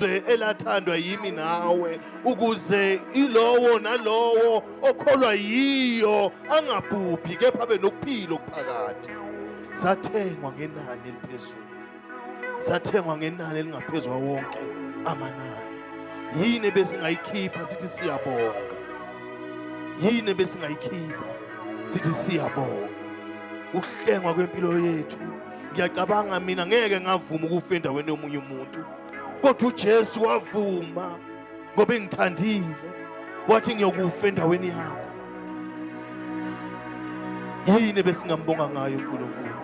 elathandwa yimi nawe ukuze ilowo nalowo okholwa yiyo angabhubhi kepha abe nokuphila okuphakade sathengwa ngenani eliphezulu sathengwa ngenani elingaphezu kwawonke amanani yini besingayikhipha sithi siyabonga yini besingayikhipha sithi siyabonga ukuhlengwa kwempilo yethu ngiyacabanga mina ngeke ngavuma ukufa endaweni yomunye umuntu kodwa uJesu wavuma ngoba engithandile wathi ngiyokufa endaweni yakho yini besingambonga ngayo uNkulunkulu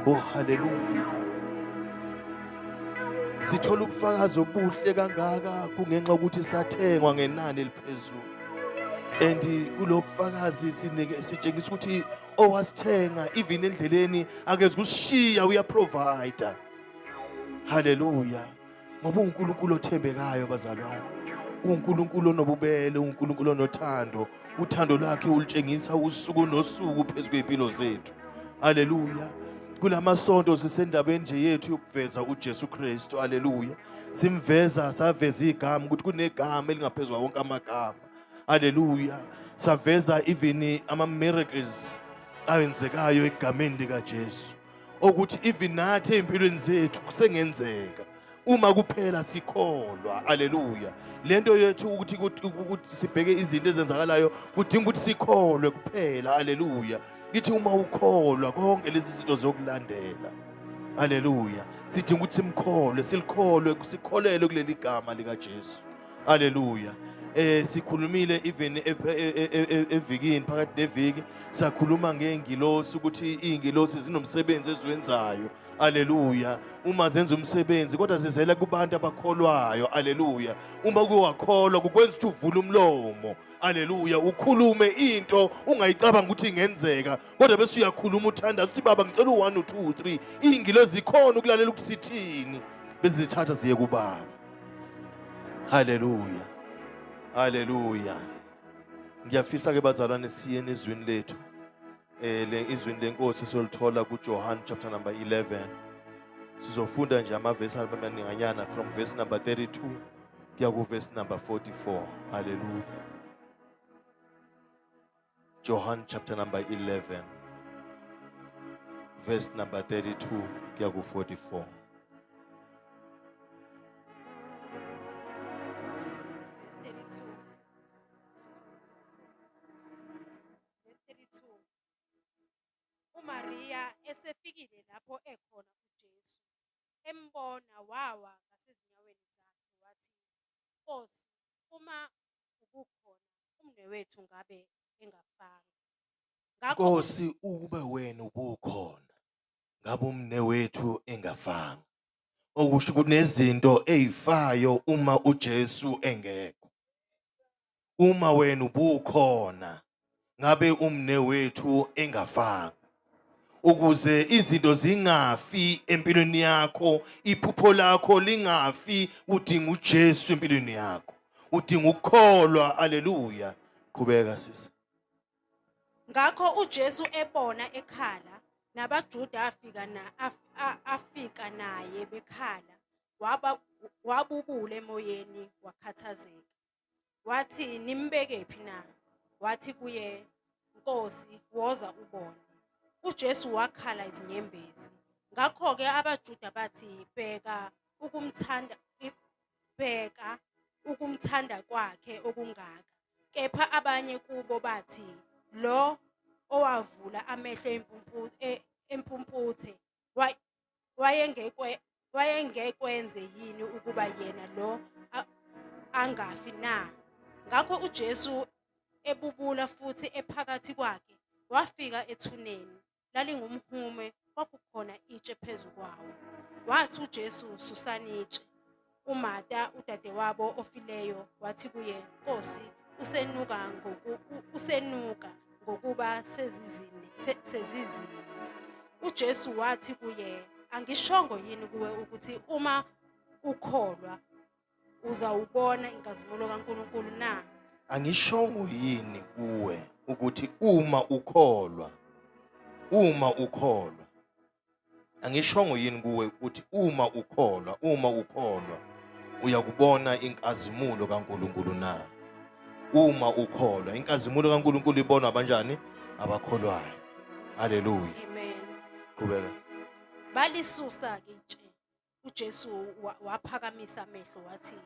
oh haleluya sithola ubufakazi obuhle kangaka kungenxa ukuthi sathengwa ngenani eliphezulu and kulobufakazi sinike sitshengisa ukuthi owasithenga even endleleni akeze kushiya uya provider haleluya ngoba uNkulunkulu othembekayo bazalwane uNkulunkulu onobubele uNkulunkulu onothando uthando lwakhe ulitshengisa usuku nosuku phezulu kwempilo zethu haleluya kulamasonto sisendabeni nje yethu yokuveza uJesu Kristu haleluya simveza saveza igama ukuthi kunegama elingaphezulu wonke amagama Hallelujah. Saveza even ama miracles awenzekayo egameni lika Jesu. Okuthi even nathi empilweni zethu kusengenzeka. uma kuphela sikholwa haleluya lento yethu ukuthi ukuthi sibheke izinto ezenzakalayo kudinga ukuthi sikholwe kuphela haleluya kithi uma ukholwa konke lezi zinto zokulandela haleluya sidinga ukuthi simkholwe silikholwe sikholelwe kuleli gama likaJesu Hallelujah. eh sikhulumile even e, e, e, evikini phakathi neviki sakhuluma ngengilosi ukuthi izingilosi zinomsebenzi eziwenzayo Aleluya. Uma zenza umsebenzi kodwa zizela kubantu abakholwayo. Aleluya. Uma kuwakholwa kukwenza ukuthi uvule umlomo. Aleluya. Ukhulume into ungayicabanga ukuthi ingenzeka kodwa bese uyakhuluma uthandaza ukuthi baba ngicela u1 u2 u3. Izingilosi zikhona ukulalela ukuthi sithini. Bezithatha ziye kubaba. Haleluya. Haleluya. Ngiyafisa ke bazalwane siye nezwini lethu. Eh le izwini lenkosi solithola kuJohn chapter number 11. Sizofunda nje amavesi amaninganyana from verse number 32 kuya ku verse number 44. Haleluya. Johan chapter number 11 verse number 32 kuya ku 44 uMariya esefikile lapho ekhona uJesu embona wawa ngasezinyaweni zakhe wathi Nkosi uma ubukhona umnewethu ngabe engafanga. Ngakho Nkosi ukube wena ubukhona ngabe umnewethu engafanga. Okusho ukuthi nezinto ezifayo uma uJesu engekho. Uma wena ubukhona ngabe umnewethu engafanga. ukuze izinto zingafi empilweni yakho iphupho lakho lingafi udinga uJesu empilweni yakho udinga ukukholwa haleluya qhubeka sisi ngakho uJesu ebona ekhala nabaJuda afika na afika naye bekhala waba wabubule emoyeni wakhathazeka wathi nimbeke phi na wathi kuye Nkosi woza ubone uJesu wakhala izinyembezi ngakho ke abaJuda bathi bheka ukumthanda bheka ukumthanda kwakhe okungaka kepha abanye kubo bathi lo owavula amehlo e, empumputhe wayengekwe wayengekwenze yini ukuba yena lo angafi na ngakho uJesu ebubula futhi ephakathi kwakhe wafika ethuneni lalingumhume kwakukhona itshe phezu kwawo wathi uJesu susana itshe UMata, udadewabo ofileyo, wathi kuye, Nkosi, usenuka ngoku, usenuka ngokuba sezizini, se, sezizini. UJesu wathi kuye, Angishongo yini kuwe ukuthi uma ukholwa uzawubona inkazimulo kaNkulunkulu na? Angishongo yini kuwe ukuthi uma ukholwa uma ukholwa angishongo yini kuwe ukuthi uma ukholwa uma ukholwa uyakubona inkazimulo kaNkuluNkulu na uma ukholwa inkazimulo kaNkuluNkulu ibonwa abanjani abakholwayo haleluya amen qhubeka balisusa ke uJesu waphakamisa amehlo wathi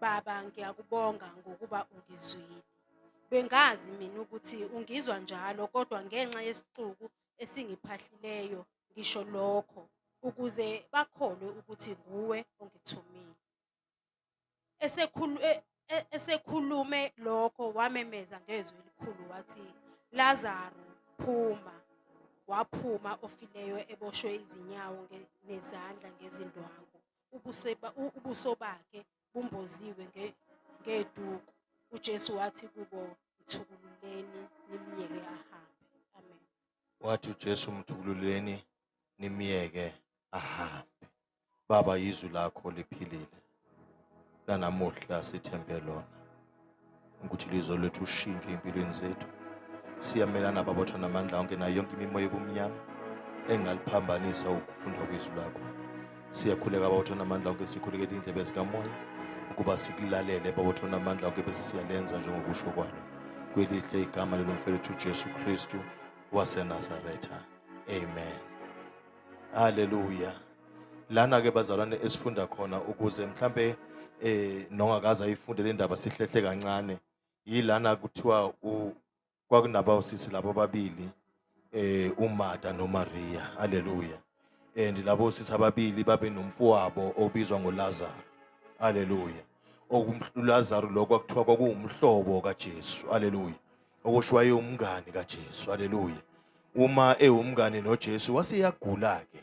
baba ngiyakubonga ngokuba ungizwile bengazi mina ukuthi ungizwa njalo kodwa ngenxa yesixuku esingiphahlileyo ngisho lokho ukuze bakholwe ukuthi nguwe ongithumile esekhulu e- e- esekhulume lokho wamemeza ngezwi elikhulu wathi Lazaro phuma waphuma ofileyo eboshwe izinyawo nge- nezandla ngezindwangu ubuso ba- u- ubuso bakhe bumboziwe nge- ngeduku uJesu wathi kubo mthukululeni nimyeke ahambe amen wathi uJesu mthukululeni nimyeke ahambe Baba izwi lakho liphilile lanamuhla sithembe lona ukuthi lizwe lethu ushintsho empilweni zethu siyamelana babotha namandla onke nayo yonke imimoya ebumnyama engaliphambanisa ukufunda kwezwi lakho siyakhuleka babotha namandla onke sikhulekele indlebe zikamoya ukuba sikulalele babotha namandla onke bese siyalenza njengokusho kwalo kwelihle igama lelomfelethu ujesu kristu wasenazaretha amen Haleluya. Lana ke bazalwane esifunda khona ukuze mhlambe eh nongakaza ayifunde le ndaba sihlehle kancane. Yilana kuthiwa u kwakunaba usisi labo babili eh uMartha noMaria. Haleluya. And labo sisi ababili babe nomfowabo obizwa ngoLazaro. Haleluya. okumhlulazaru lokho kwakuthiwa kwakuwumhlobo kaJesu haleluya okusho wayewumngani kaJesu haleluya uma ewumngani noJesu waseyagula ke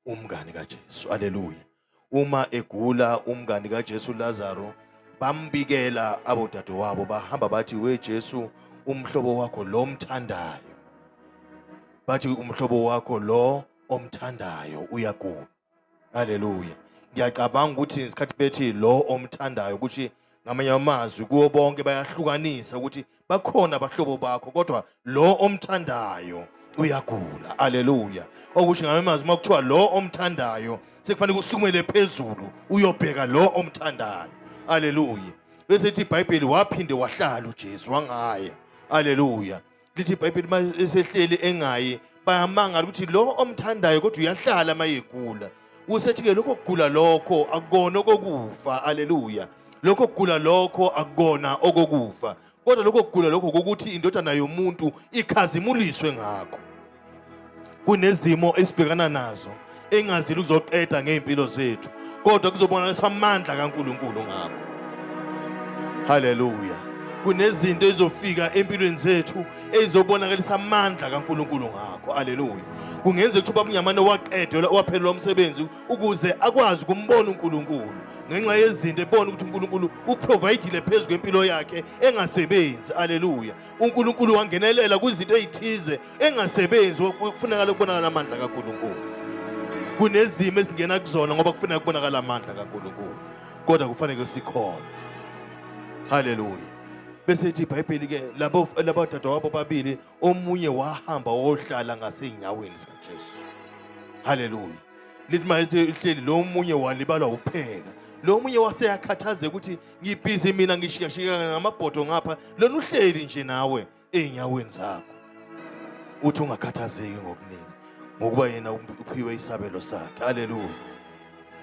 umngani kaJesu haleluya uma egula umngani kaJesu Lazaro bambikela abodadewabo bahamba bathi we Jesu umhlobo wakho lo mthandayo bathi umhlobo wakho lo omthandayo uyagula haleluya ngiyacabanga ukuthi ngesikhathi bethi lo omthandayo ukuthi ngamanye amazwi kuwo bonke bayahlukanisa ukuthi bakhona abahlobo bakho kodwa lo omthandayo uyagula aleluya okusho ngamanye amazwi uma kuthiwa lo omthandayo sekufanele kusukumele phezulu uyobheka lo omthandayo aleluya bese ithi ibhayibheli waphinde wahlala ujesu wangaya aleluya lithi ibhayibheli uma esehleli engayi bayamangala ukuthi lo omthandayo kodwa uyahlala uma yegula usethi-ke lokho kugula lokho akukona okokufa aleluya lokho kugula lokho akukona okokufa kodwa lokho kugula lokho kokuthi indodana yomuntu ikhazimuliswe ngakho kunezimo esibhekana nazo engazile ukuzoqeda ngey'mpilo zethu kodwa kuzobonakalisa amandla kaNkulunkulu ngakho haleluya kunezinto ezofika empilweni zethu ezizobonakalisa amandla kaNkuluNkulu ngakho haleluya kungenza ukuthi ubabungamane waqedelwa waphelelwa umsebenzi ukuze akwazi ukumbona uNkulunkulu ngenxa yezinto ebona ukuthi uNkulunkulu uprovayidile phezu kwempilo yakhe engasebenzi haleluya uNkulunkulu wangenelela kwizinto ezithize engasebenzi kufunakala kubonakala amandla kaNkulunkulu kunezimo esingena kuzona ngoba kufuneka kubonakala amandla kaNkulunkulu kodwa kufanele sikhona haleluya bese ithi ibhayibheli ke labo labo dadewabo babili omunye wahamba wohlala ngasenyaweni zikaJesu haleluya lithi mayithi hleli lo munye walibalwa upheka lo munye waseyakhathazeka ukuthi ngibhizi mina ngishikashikana ngamabhodo ngapha lona uhleli nje nawe ey'nyaweni zakho uthi ungakhathazeki ngokuningi ngokuba yena uphiwe isabelo sakhe haleluya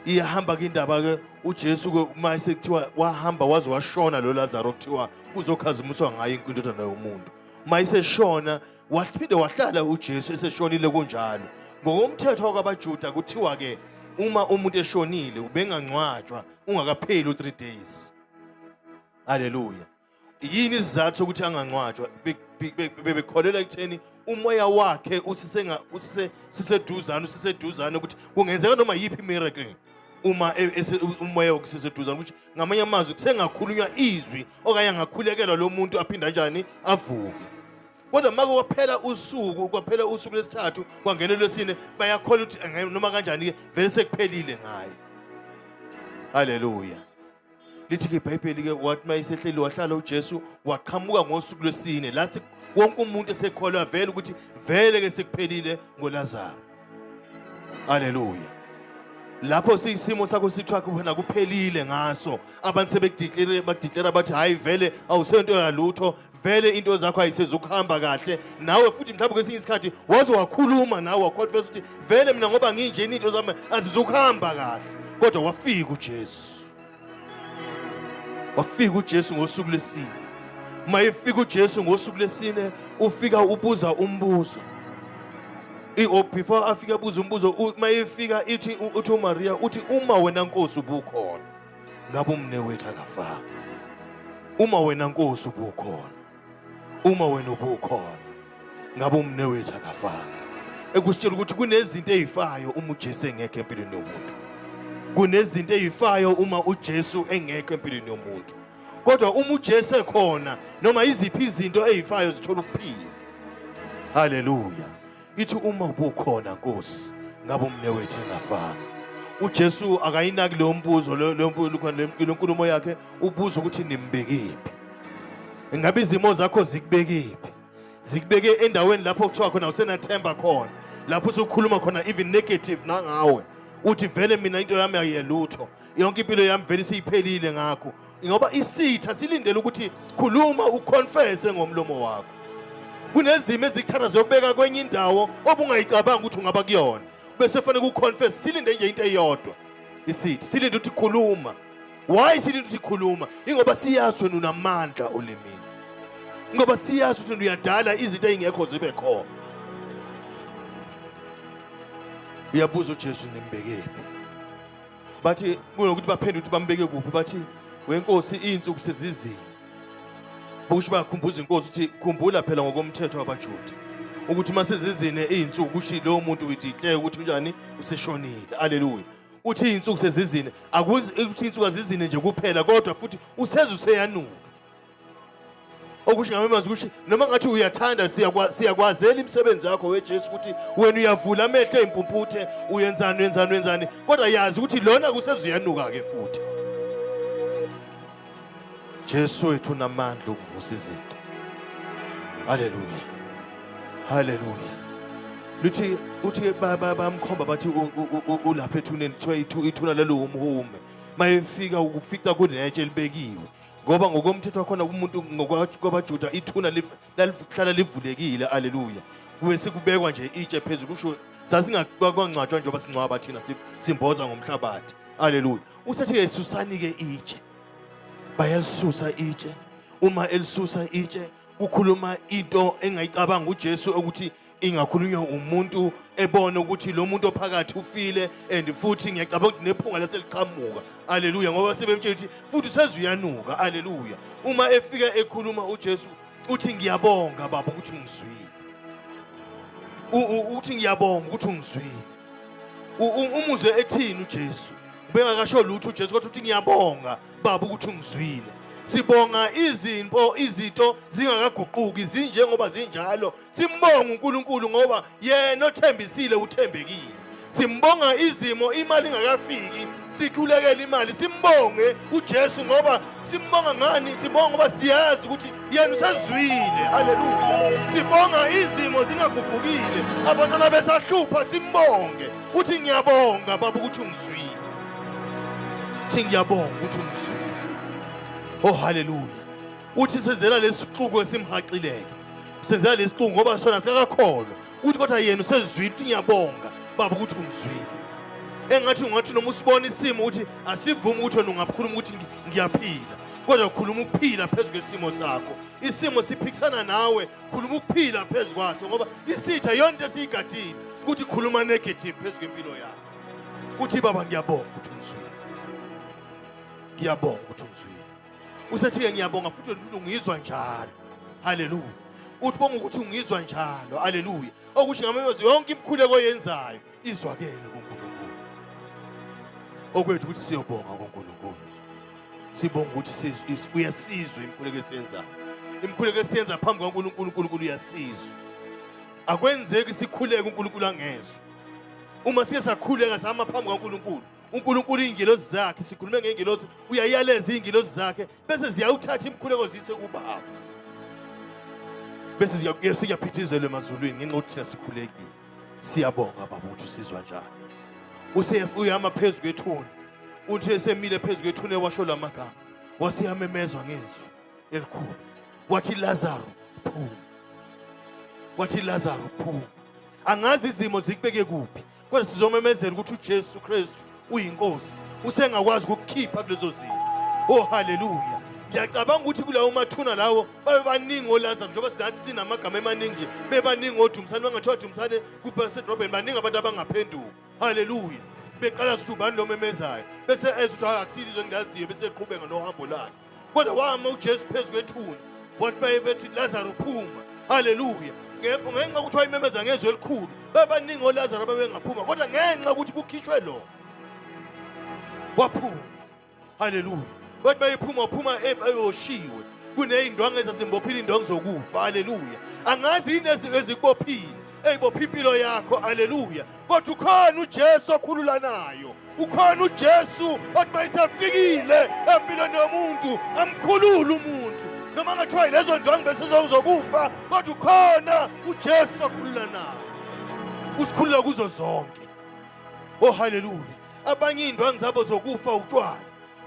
iyahamba ke indaba ke uJesu ke uma esekuthiwa wahamba waze washona lo Lazaro kuthiwa uzokhazimuswa ngaye inkundodana yomuntu uma iseshona Waphinde wahlala uJesu eseshonile kunjalo. Ngokomthetho wakwabaJuda kuthiwa ke uma umuntu eshonile ubengangcwatshwa ungakapheli u3 days. Haleluya. Yini isizathu sokuthi angangcwatshwa? Bebekholelwa ekutheni umoya wakhe usisenga usiseduzane usiseduzane ukuthi kungenzeka noma yiphi miracle. uma e, umoya wokuseseduzane ukuthi ngamanye amazwi kusengakhulunywa izwi okanye angakhulekelwa lo muntu aphinde kanjani avuke kodwa uma kwaphela usuku kwaphela usuku lesithathu kwangena lwesine bayakhola ukuthi noma kanjani-ke vele sekuphelile ngayo haleluya lithi-ke ibhayibheli-ke wathi uma isehleli wahlala ujesu waqhamuka ngosuku lwesine lathi wonke umuntu esekholwa vele ukuthi vele-ke sekuphelile ngolazaro aleluya lapho siyisimo sakho sithiwa khona kuphelile ngaso abantu sebekudiclere badiclera bathi hhayi vele awusento yalutho vele into zakho ayisezukuhamba kahle nawe futhi mhlawumbe kwesinye isikhathi waze wakhuluma nawe waconfess ukuthi vele mina ngoba nginjeni into zami azizukuhamba kahle kodwa wafika uJesu wafika uJesu ngosuku lesine uma efika uJesu ngosuku lesine ufika ubuza umbuzo oh, before afike abuza umbuzo uma efika ithi uthi uMaria uthi uma wena Nkosi ubukhona ngabe umnewethu akafanga uma wena nkosi ubukhona uma wena ubukhona ngabe umnewethu akafanga ekusitshela ukuthi kunezinto ezifayo uma uJesu engekho empilweni yomuntu kunezinto ezifayo uma uJesu engekho empilweni yomuntu kodwa uma uJesu ekhona noma iziphi izinto ezifayo zithola ukuphila haleluya ithi uma ubukhona nkosi ngabe umnewethu engafanga uJesu akayinaki leyo mbuzo leyo nkulumo yakhe ubuza ukuthi nimbekephi ingabe izimo zakho zikubekephi zikubeke endaweni lapho kuthiwa khona usenathemba khona lapho usukhuluma khona even negative nangawe uthi vele mina into yami ayiyelutho yonke impilo yami vele seyiphelile ngakho ngoba isitha silindele ukuthi khuluma uconfesse ngomlomo wakho kunezimo ezikuthatha zokubeka kwenye indawo obungayicabanga ukuthi ungaba kuyona bese fanele kuconfesse silinde nje into eyodwa isithi silinde ukuthi khuluma why silinde ukuthi khuluma ingoba siyazi wena unamandla olimini ngoba siyazi ukuthi uyadala izinto ezingekho zibe khona uyabuza uJesu nimbekephi bathi kunokuthi baphendule ukuthi bambeke kuphi bathi wenkosi iy'nsuku sezizini bokusho bakhumbuza inkosi ukuthi khumbula phela ngokomthetho wabajuda ukuthi uma sezizine iy'nsuku kusho lowo muntu uyidikleye ukuthi unjani useshonile aleluya uthi iy'nsuku sezizine ukuthi iy'nsuku azizine nje kuphela kodwa futhi useze useyanuka okusho ngamanye amazwi ukuthi noma ngathi uyathanda siyakwazela imisebenzi yakho wejesu ukuthi wena uyavula amehlo ey'mpumputhe uyenzani uyenzani uyenzani kodwa yazi ukuthi lona kusezuyanuka-ke futhi jesu wethu unamandla okuvusa izinto haleluya haleluya luthi uthi bamkhomba bathi ulapha ethuneni kuthiwa ithuna lelo wumhume mayefika ukufica kunetshe elibekiwe ngoba ngokomthetho wakhona kumuntu ngokwabajuda ithuna lalihlala livulekile aleluya kube sikubekwa nje itshe phezulu kusho sasingakwancwatshwa njengoba singcwaba thina simboza ngomhlabathi aleluya usethi-ke susani-ke itshe bayalisusa itshe uma elisusa itshe ukhuluma into engayicabanga uJesu ukuthi ingakhulunywa umuntu ebona ukuthi lo muntu ophakathi ufile and futhi ngiyacabanga ukuthi nephunga laseliqhamuka aleluya ngoba sebemtshela ukuthi futhi useze uyanuka aleluya uma efika ekhuluma ujesu uthi ngiyabonga baba ukuthi ungizwile uthi ngiyabonga ukuthi ungizwile umuzwe ethini ujesu ubengakasho lutho ujesu kodwa uthi ngiyabonga baba ukuthi ungizwile sibonga izimpo izinto zingakaguquki zinjengoba zinjalo Simbonga uNkulunkulu ngoba yena othembisile uthembekile. Simbonga izimo imali ingakafiki sikhulekele imali simbonge uJesu ngoba simbonga ngani sibonga ngoba siyazi ukuthi yena usezwile haleluya sibonga izimo zingaguqukile abantwana besahlupha simbonge uthi ngiyabonga baba ukuthi ungizwile uthi ngiyabonga ukuthi ungizwile oh haleluya uthi senzela lesixuku esimhaqileke senzela lesixuku ngoba sona sikakakholwa uthi kodwa yena usezwile ukuthi ngiyabonga baba ukuthi ungizwile engathi ungathi noma usibona isimo ukuthi asivumi ukuthi wena ungakhuluma ukuthi ngiyaphila kodwa khuluma ukuphila phezu kwesimo sakho isimo siphikisana nawe khuluma ukuphila phezu kwaso ngoba isitha yonto esiyigadile ukuthi khuluma negative phezu kwempilo yakho uthi baba ngiyabonga ukuthi ungizwile ngiyabonga ukuthi ungizwile usethi-ke ngiyabonga futhi ukuthi ungizwa njalo haleluya uthi bonga ukuthi ungizwa njalo haleluya okusho ngamayozi yonke imikhuleko oyenzayo izwakele kunkulunkulu okwethu ukuthi siyobonga kunkulunkulu sibonga ukuthi uyasizwa imikhuleko esiyenzayo imikhuleko esiyenza phambi kwankulunkulu unkulunkulu uyasizwa akwenzeki sikhuleke unkulunkulu angezwa uma siye sakhuleka sama phambi kwankulunkulu uNkulunkulu iy'ngilozi zakhe sikhulume ngey'ngilozi uyayaleza iy'ngilozi zakhe bese ziyawuthatha imikhuleko ziyise kubaba bese siyaphithizelwe emazulwini ngenxa yokuthi thina sikhulekile siyabonga baba ukuthi usizwa njani useyama phezu kwethuni uthi esemile phezu kwethuni ewasho la magama waseyamemezwa ngezwi elikhulu wathi lazaro phuma wathi lazaro phuma angazi izimo zikubeke kuphi Kodwa sizomemezela ukuthi uJesu Kristu uyinkosi. Usengakwazi ukukhipha kulezo zinto. Oh haleluya. ngiyacabanga ukuthi kulawo mathuna lawo babebaningi olaza njengoba singathi sinamagama emaningi nje bebaningi odumsane bangathiwa dumsane kubasedrobheni baningi abantu abangaphenduka haleluya beqala ukuthi ubani lomemezayo bese eza ukuthi akusile izwe engilaziyo bese eqhubeka nohambo lakhe kodwa wama ujesu phezu kwethuna wathi baye bethi lazaro phuma haleluya ngenxa ukuthi wayimemeza ngezwi elikhulu babaningi olazaro babengaphuma kodwa ngenxa ukuthi kukhishwe lo waphuma haleluya bathi bayephuma waphuma eyoshiwe kuney'ndwangu ezazimbophile iy'ndwangu zokufa haleluya angazi yini ezikubophile eyibopha impilo yakho haleluya kodwa ukhona uJesu okhululanayo ukhona uJesu othi mayisefikile empilweni yomuntu amkhulule umuntu noma ngathiwa yilezo ndwangu bese zokuzokufa kodwa ukhona uJesu okhululanayo usikhulula kuzo zonke oh haleluya abanye iy'ndwangu zabo zokufa utshwala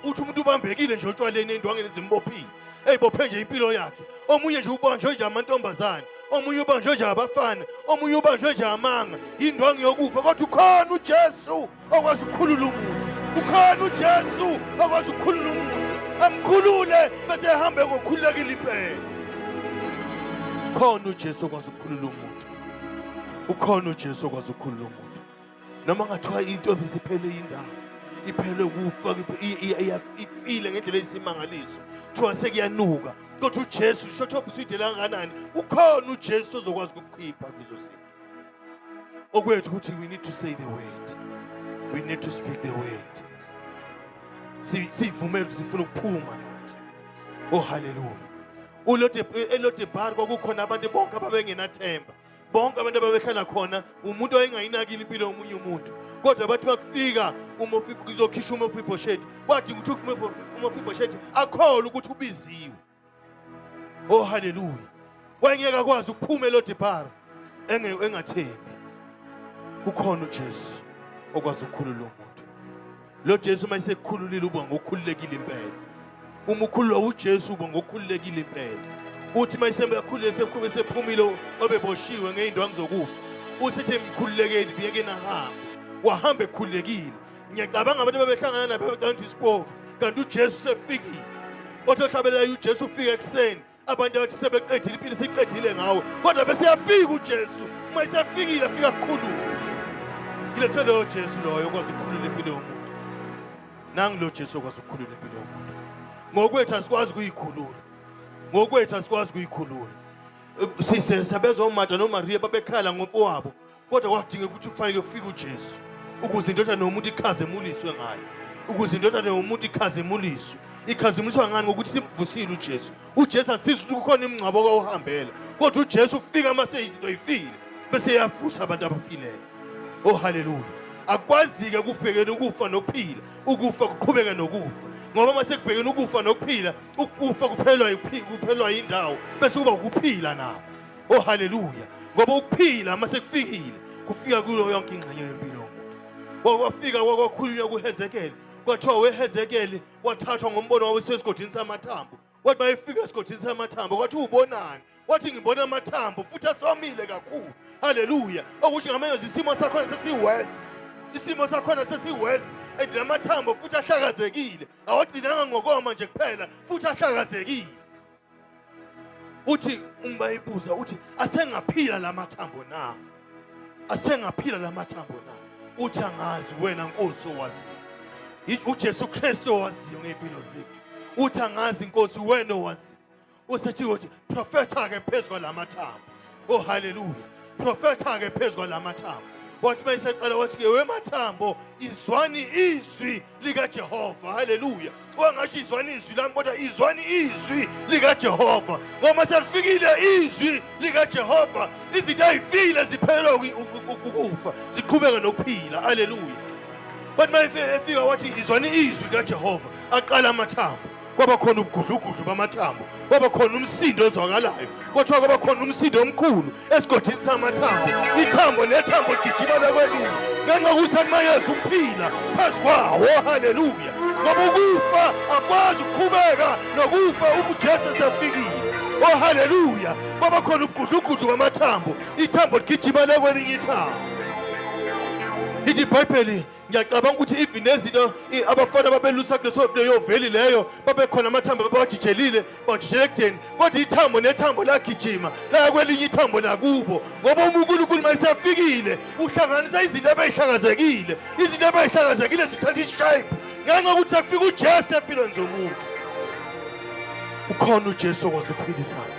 uthi umuntu ubambekile nje otshwaleni endwangeni ezimbophile eyibophe nje impilo yakhe omunye nje ubanjwe nje amantombazane omunye ubanjwe nje abafana omunye ubanjwe nje amanga indwangu yokufa kodwa ukhona ujesu okwazi ukukhulula umuntu ukhona ujesu okwazi ukukhulula umuntu amkhulule bese ehambe ngokhululekile impela khona ujesu okwazi ukukhulula umuntu ukhona ujesu okwazi ukukhulula umuntu noma ngathiwa intombi siphele indawo iphele kufa ifile ngendlela eyisimangaliso kuthiwa sekuyanuka kodwa ujesu shotho obuside langakanani ukhona ujesu ozokwazi ukukhipha kuzo zinto okwethu ukuthi we need to say the word we need to speak the word siyivumele ukuthi sifuna ukuphuma oh haleluya ulodebar eh, kwakukhona abantu bonke ababengenathemba bonke abantu ababehlala khona umuntu wayengayinakile impilo yomunye umuntu kodwa bathi bakufika uzokhishwa umofibhosheti kwadinga ukuthi umofibhosheti akholwe ukuthi ubiziwe o oh, haleluya wayengeke akwazi ukuphuma elodibhara engathembi kukhona ujesu okwazi ukukhulula umuntu Lo Jesu uma esekukhululile uba ngokhululekile impela. Uma ukhululwa uJesu uba ngokhululekile impela. Uthi uma esekhulule sekhube sephumile obeboshiwe ngeindwangu zokufa. Uthi ethi mkhululekeni biyeke nahamba. Wahamba ekhululekile. Ngiyacabanga abantu ababehlangana nabo becanga ukuthi isipoki kanti uJesu sefikile. Othi ohlabelelayo uJesu ufika ekuseni abantu abathi sebeqedile impilo siqedile ngawe kodwa bese yafika ujesu uma isefikile afika kukhulula ngilethe loyo jesu loyo okwazi ukukhulula impilo yomuntu nangu lo jesu okwazi ukukhulula impilo yomuntu ngokwethu asikwazi ukuyikhulula ngokwethu asikwazi ukuyikhulula sisesabezomata nomariya babekhala ngomfowabo kodwa kwadinga ukuthi kufanele kufike uJesu ukuze indodana yomuntu ikhazemuliswe ngayo ukuze indodana yomuntu ikhazemuliswe ikhazemuliswa ngani ngokuthi simvusile uJesu uJesu asiza ukuthi kukhona imingcwabo okawuhambela kodwa uJesu ufika uma seyizinto yifile bese yavusa abantu abafileyo oh haleluya akwazike ukubhekela ukufa nokuphila ukufa kuqhubeka nokufa ngoba uma sekubhekene ukufa nokuphila ukufa kuphelwa kuphelwa yindawo bese kuba ukuphila nako Oh haleluya. Ngoba ukuphila uma sekufikile kufika kuyo yonke ingxenye yempilo yomuntu. Wafika kwakhulunywa kuHezekeli. Kwathiwa weHezekeli wathathwa ngombono wawusesigodini samathambo. Wathi mayefika esigodini samathambo kwathi ubonani? Wathi ngibona amathambo futhi asomile kakhulu. Haleluya. Okusho ngamenyoza isimo sakhona sesiworse. Isimo sakhona sesiworse and lamathambo futhi ahlakazekile. Awagcinanga ngokoma nje kuphela futhi ahlakazekile. uthi umbayibuza uthi asengaphila lamathambo na asengaphila lamathambo na uthi angazi wena nkosi owaziyo uJesu Kristu owaziyo ngempilo zethu uthi angazi inkosi wena owaziyo usethi uthi profeta ke phezulu lamathambo oh haleluya profeta ke phezulu lamathambo wathi bayiseqala wathi ke wemathambo izwani izwi likajehova haleluya wangathi izwani izwi lami kodwa izwani izwi likajehova ngoba selifikile izwi likajehova izinto ayifile ziphelelwa ukufa ziqhubeka nokuphila haleluya kwathi uma efika wathi izwani izwi likajehova aqala amathambo kwaba khona ubugudlugudlu bamathambo kwaba khona umsindo ozwakalayo kwathiwa kwaba khona umsindo omkhulu esigodini samathambo ithambo nethambo ligijima lakwelinye ngenxa kusakumayeza ukuphila phezu kwawo haleluya ngoba ukufa akwazi ukuqhubeka nokufa umujesu esefikile oh haleluya kwaba khona ubugudlugudlu bamathambo ithambo ligijima lakwelinye ithambo ithi ibhayibheli ngiyacabanga ukuthi even nezinto abafana ababelusa kuleso leyo veli leyo babekhona amathambo babawajijelile bawajijela ekudeni kodwa ithambo nethambo lagijima laya kwelinye ithambo lakubo ngoba uma unkulunkulu uma esefikile uhlanganisa izinto abeyihlakazekile izinto abeyihlakazekile zithatha ishayipe ngenxa ukuthi afika ujesu empilweni zomuntu ukhona ujesu okwaziphilisana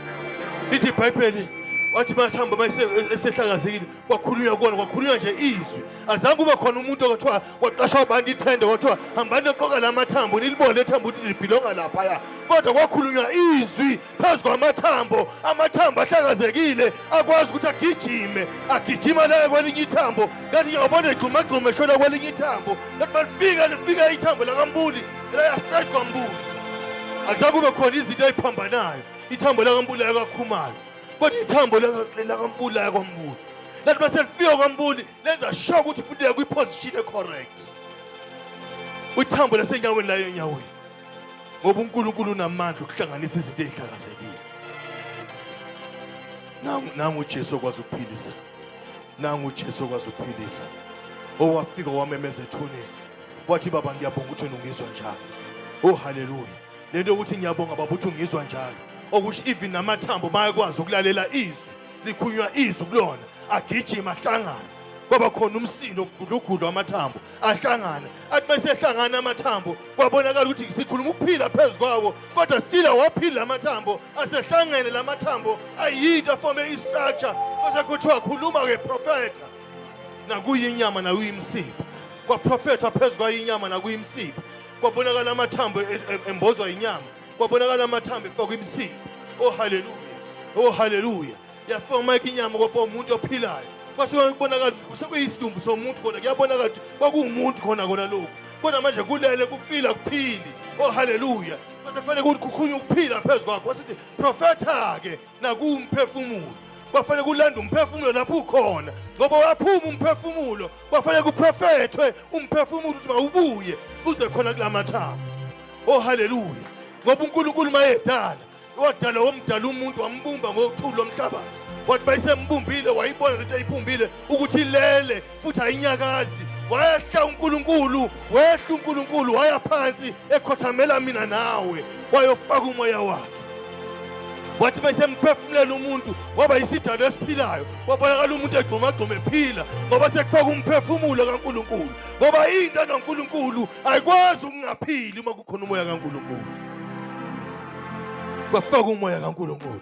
lithi ibhayibheli wathi mathambo uma esehlakazekile kwakhulunywa kuwona kwakhulunywa nje izwi azange kube khona umuntu okuthiwa kwaqashwa abantu ithende kwathiwa hambani noqoka la mathambo nilibone ethambo ukuthi libhilonga laphaya kodwa kwakhulunywa izwi phezu kwamathambo amathambo ahlakazekile akwazi ukuthi agijime agijima laye kwelinye ithambo kanti ngiyabona egxumagxuma eshona kwelinye ithambo kanti balifika lifika ithambo lakambuli layastraight kwambuli azange kube khona izinto eziphambanayo ithambo lakambuli lakakhumalo kodwa ithambo lakambuli laya kwambuli lathi uma selifika kwambuli lenza sure ukuthi futhi uya kwiposition ecorrect ithambo lasenyaweni layo enyaweni ngoba unkulunkulu unamandla ukuhlanganisa izinto ezihlakazekile nangu ujesu okwazi ukuphilisa nangu ujesu okwazi ukuphilisa owafika wamemeza ethuneni wathi baba ngiyabonga ukuthi nungizwa njalo oh haleluya le nto yokuthi ngiyabonga baba ukuthi ungizwa njalo okusho even namathambo bayakwazi ukulalela izwi likhunywa izwi kulona agijima ahlangane kwaba khona umsindo ogudlugudlwa amathambo ahlangana athi uma esehlangana amathambo kwabonakala ukuthi sikhuluma ukuphila phezu kwawo kodwa still awaphili la mathambo asehlangene la mathambo ayinto afome istructure kwase kuthiwa khuluma-ke profetha nakuyinyama nakuyimisipha kwaprofethwa phezu kwayinyama nakuyimisipha kwabonakala amathambo e- e- embozwa inyama kwabonakala amathambo efakwa imisindo oh haleluya oh haleluya yafoma inyama kwaba umuntu ophilayo kwase kubonakala ukuthi kusekuyisdumbu somuntu kona kuyabonakala ukuthi kwakuwumuntu khona kona lokhu kodwa manje kulele kufila kuphili oh haleluya kwase kufanele ukuthi kukhunye ukuphila phezu kwakho wasithi profetha-ke nakuwumphefumulo kwafanele kulanda umphefumulo lapho ukhona ngoba waphuma umphefumulo kwafanele kuprofethwe umphefumulo ukuthi mawubuye uze khona kula mathambo o oh, haleluya ngoba unkulunkulu mayedala wadala womdala umuntu wambumba ngokuthula lomhlabathi wathi bayisembumbumbile wayibona lento eyibumbile ukuthi ilele futhi ayinyakazi wayehla uNkulunkulu wehla uNkulunkulu waya phansi ekhothamela mina nawe wayofaka umoya wakhe wathi besemphefumulela umuntu waba yisidalo esiphilayo wabonakala umuntu egxumagxuma ephila ngoba sekufaka umphefumulo kaNkulunkulu ngoba into enoNkulunkulu ayikwazi ukungaphili uma kukhona umoya kaNkulunkulu kwafaka umoya kaNkulunkulu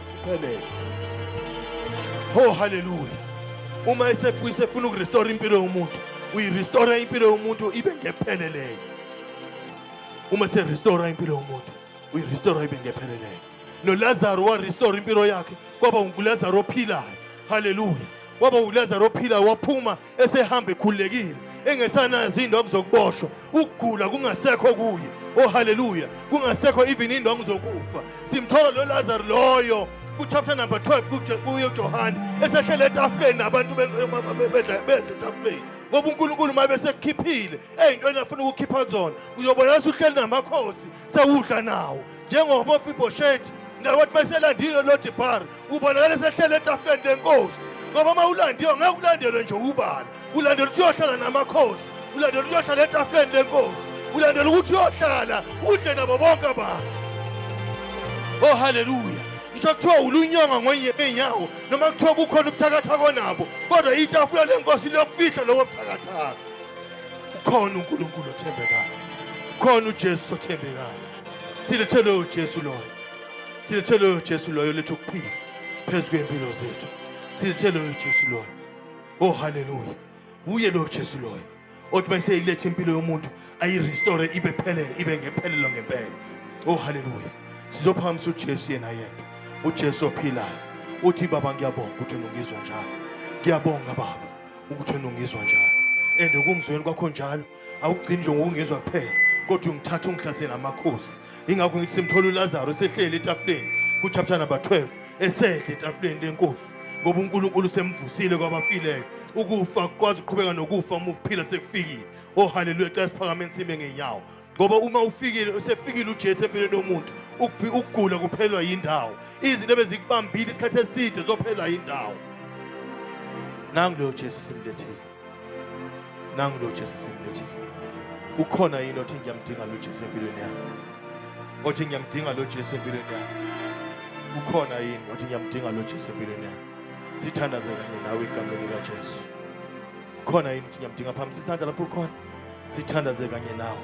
Phelele. Oh hallelujah. Uma esebuyise efuna ukurestore impilo yomuntu, uyirestore impilo yomuntu ibe ngepheleleyo. Uma se restore impilo yomuntu, uyirestore ibe ngepheleleyo. No Lazaro wa restore impilo yakhe kwaba nguLazaro ophilayo. Hallelujah. Kwaba uLazaro ophilayo waphuma esehamba ekhululekile engesanazo iy'ndwangu zokuboshwa ukugula kungasekho kuye oh haleluya kungasekho even iy'ndwangu zokufa simthola lo lazaro loyo kuchapter number 12 kuye ujohane esehlele etafuleni nabantu bedla etafuleni ngoba unkulunkulu uma besekukhiphile ey'ntweni afuna ukukhipha kuzona uyobona ukuthi uhleli namakhosi sewudla nawo njengoba ofibhoshethi nabantu baselandile lodibhari ubonakala esehlele etafuleni lenkosi ngoba uma ulandiwe ngeke ulandelwe nje ubani ulandela ukuthi uyohlala namakhosi ulandela ukuthi uyohlala etafuleni lenkosi ulandela ukuthi uyohlala udle nabo bonke abantu o oh, haleluya ngisho kuthiwa ulunyonga ngwenye ngeenyawo noma kuthiwa kukhona ubuthakatha konabo kodwa itafula lenkosi liyofihla lobo buthakathaka ukhona unkulunkulu othembekayo ukhona ujesu othembekayo silethelwe uJesu loyo silethelwe uJesu loyo lethu kuphila phezu kwempilo zethu silethelwe uJesu loyo oh haleluya uye lo Jesu loyo othi bese ilethe impilo yomuntu ayi restore ibe phelele ibe ngephelelo ngempela oh haleluya sizophamisa uJesu yena yedwa uJesu ophilayo uthi baba ngiyabonga ukuthi ungizwa njalo ngiyabonga baba ukuthi ungizwa njalo and ukungizweni kwakho njalo awugcini nje ngokungizwa kuphela kodwa ungithatha ungihlathe namakhosi ingakho ngithi simthola ulazaro esehleli etafuleni kuchapter number 12 esedle etafuleni lenkosi ngoba unkulunkulu semvusile kwabafileyo ukufa kwazi uqhubeka nokufa uma uphila sekufikile oh haleluya cela siphakameni sime ngenyawo ngoba uma ufikile usefikile uJesu empilweni yomuntu ukugula kuphelwa yindawo izinto ebezikubambile isikhathi eside zophelwa yindawo nangu lo Jesu simlethile nangu lo Jesu simbethi ukhona yini othi ngiyamdinga lo Jesu empilweni yami othi ngiyamdinga lo Jesu empilweni yami ukhona yini othi ngiyamdinga lo Jesu empilweni yami sithandaze kanye nawe igameni lika Jesu khona yini ukuthi ngiyamdinga phambisa isandla lapho ukhona sithandaze kanye nawe